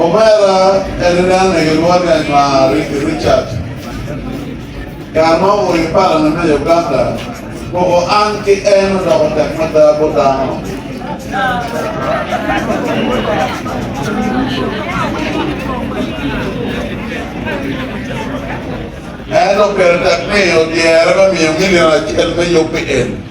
Omera adada ni gilwonge Anywa Ricky Richard. Kare ma owoyo i palane me Uganda, koko an ki en odoko tek mada bot dano. En oketo tek ni odyere me miyo milion acel me yub pi en.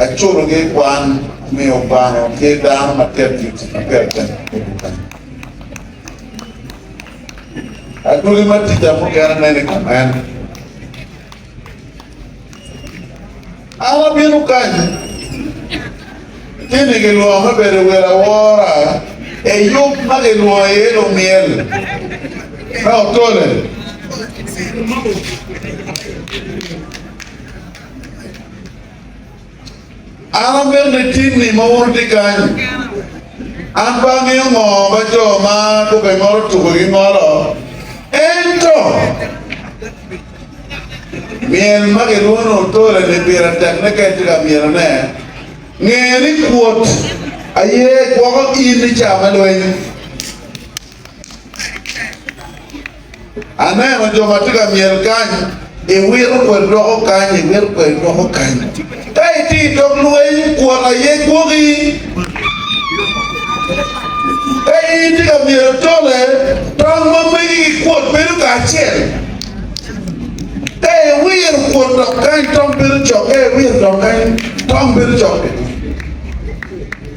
Acuto ki kwan me obano ki dano ma tek ki tic ma pire tek i dukan. Adwogi ma tica mukene nen i kamen. An abino kanyi ci ni gilwongo me bedo wel awora e yub ma gilwongo iye lumyel me otole. An amene tinni ma wun wutye kany-nyi, an pe angeyo ngo ma jo ma kube ngolo tuko gingolo, ento myel ma kilwongo ni otole-ni pire tekne ka itye ka myelone. Nge ni kwot aye gwoko in i ca me lweny. Aneno jo ma tye ka myel kany, iwito kweri idwoko kany, iwito kweri idwoko kany. Ka itye i dog lweny, kwot aye gwoki. Ka in itye ka myelo tole, tong ma megi ki kwot bedo kacel. Ka iwiro kwot dok kany, tong bedo cok. Ka iwiro dok kany, tong bedo cok bene.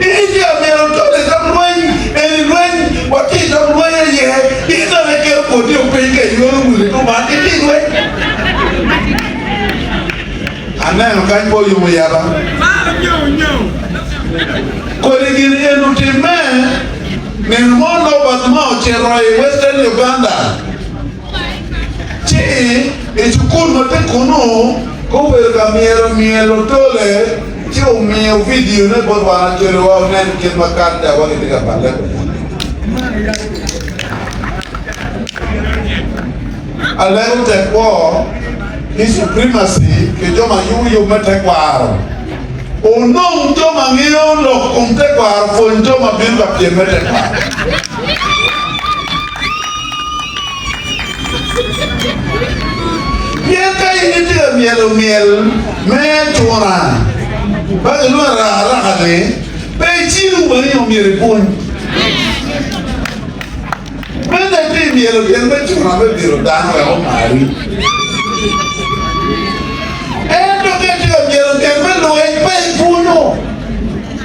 Iyee myero itol i dog lweny, en i lweny, watye i dog lweny aye. In dok iketo boti o piny ka iyoyo muni kuman itye i lweny. Aneno kany pe oyumo yaba. Kodi gin eni otimme nino mo Norbert ma ocito i Western Uganda. Ci i cukul ma tye kunnu, gubedo ka myero myelo tole ci omiyo vidione bot wan acolliwa onen kit ma karatawa gitye ka palle kwede. Alego tekwo ki suprimaci pi jo ma yubo yub me tekwaro. Onong jo ma ngeyo lok kom tekwaro pwony jo ma bino ka pyem me tekwaro. Pien ka in itye ka myelo myel me atura ma gilwongo arakaraka-ni, pe icibo wang'i nyo myero ipwony. Mene pi imyelo myel me atura me biro dano wek omari. Ento ka itye ka myelo myel me luec, pe ipwonyo.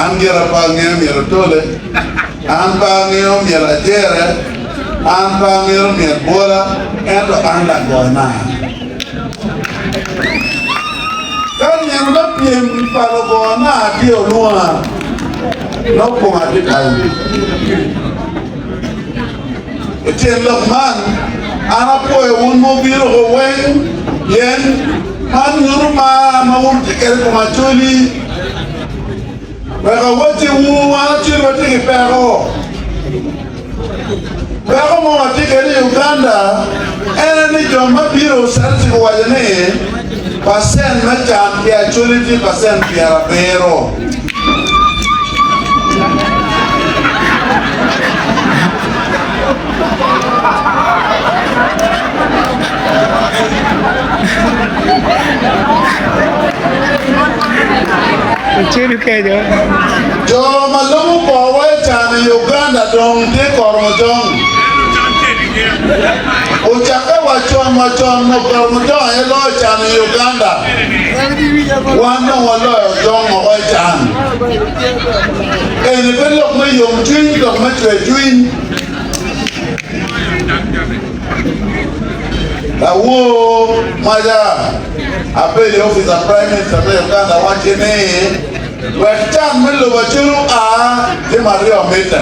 An gira pe angeo myero atole, an pe angeo myero ajere, an pe angeo myero bwola, ento an lagona. Ka nino me pyem pa lugona tye olwonga, nongo koma tye kayo. I tyen lok man, an apwoyo wun ma wubino woko weng, pien man nyuto mar ma wutye kwede i kom Acholi. Wek awacciwu, wan Acholi watye ki peko. Peko ma watye kwede i Uganda en aye ni jo ma bino cito ci guwaco ni pacent me can pi Acholi tye pacent pyerabiro. Jo ma lwogo kwowa i can i Uganda dong tye ka Koromojong. Ocakke wa con wa con nyo Koromojong aye loyo can i Uganda. Wan dong waloyo dong woko i can. Eni pe lok me yomcwiny ki dok me cwercwiny. Lawor maca abedo i opic a Prime Minister me Uganda wacci ni wek can me lobo acel oa jami aryo mitte.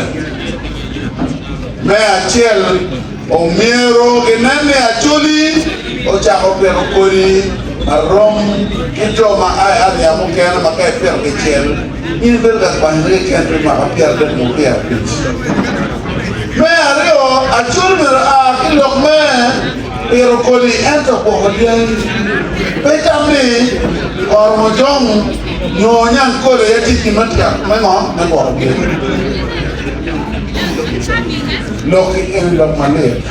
Me acel Omyero ginen ni Acholi ocako pito kodi marom ki jo ma a i aria mukene ma ka ipito kicel in ibedo ka kwanyone keken pi mwaka pyeradek nyo pyerabic. Me aryo, Acholi myero a ki lok me pito kodi ento gwoko dyangi. Pe tam ni oro mojong nyo onyang kole aye tye gin matek me ngo? Me gwoko dyangi. Lok keken lok malit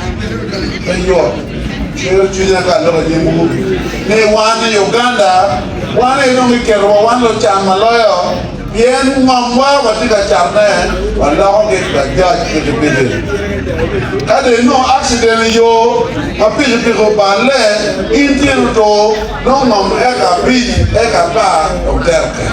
pe yot cwero cwinya ka aloko i nyim ur ni wan i Uganda wan aye dong kiketo wa wan lucan ma loyo pien ngomwa watye ka canne waloko ki Bajaj pikipiki ka dong inongo accident i yo ma pikipiki oballe in tyeni otur nongo ngom eka abic eka apar dong tere tek.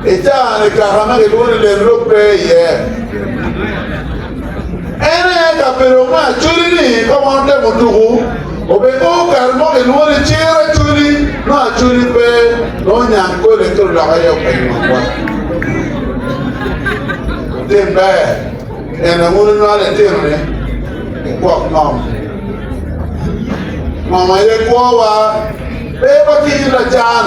I caa-ni kaka ma gilwongo ni lel lok pe iye. En aye kabedo me acholi ni ka wan otemo tuku obed mo kare mo gilwongo ni ciro acholi nongo acholi pe nongo nyang kole kelo lok aye openyo makwa. Tim ber en awun onywalo itinone ikwok ngom. Ngom aye kwowa pe watinyo lacan.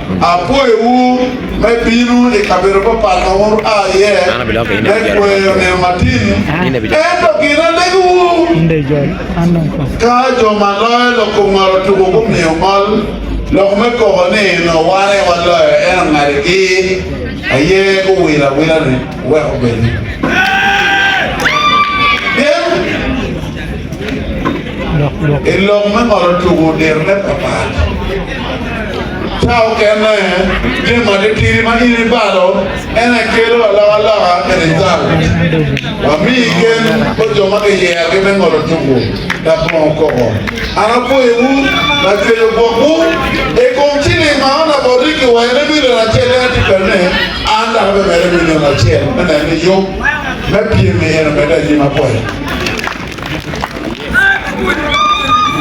Apwoyowu me bino i kabedo papat ma wun wua iye me kweyo nino matin, ento gin alegowu ka jo ma loyo lok kom ngolo tuko gumiyo ngol lok me koko ni nongo wan aye waloyo, ento ngadigi aye guwilo awila ni wuwek obedi. Pien i lok me ngolo tuko dirone papat. Ca okene, jami matitidi ma in ibalo en aye kelo alokaloka i rizalt. Wamiyi gen pa jo ma kiyerogi me ngolo tuku labongo koko. An apwoyowu, lacweyo gwokwu. I kom ciling ma ona bot rik kiwero ni milion acel en atye kati ni an dok abimede milion acel me neno ni yub me pyem-mi en omedde anyim apoya.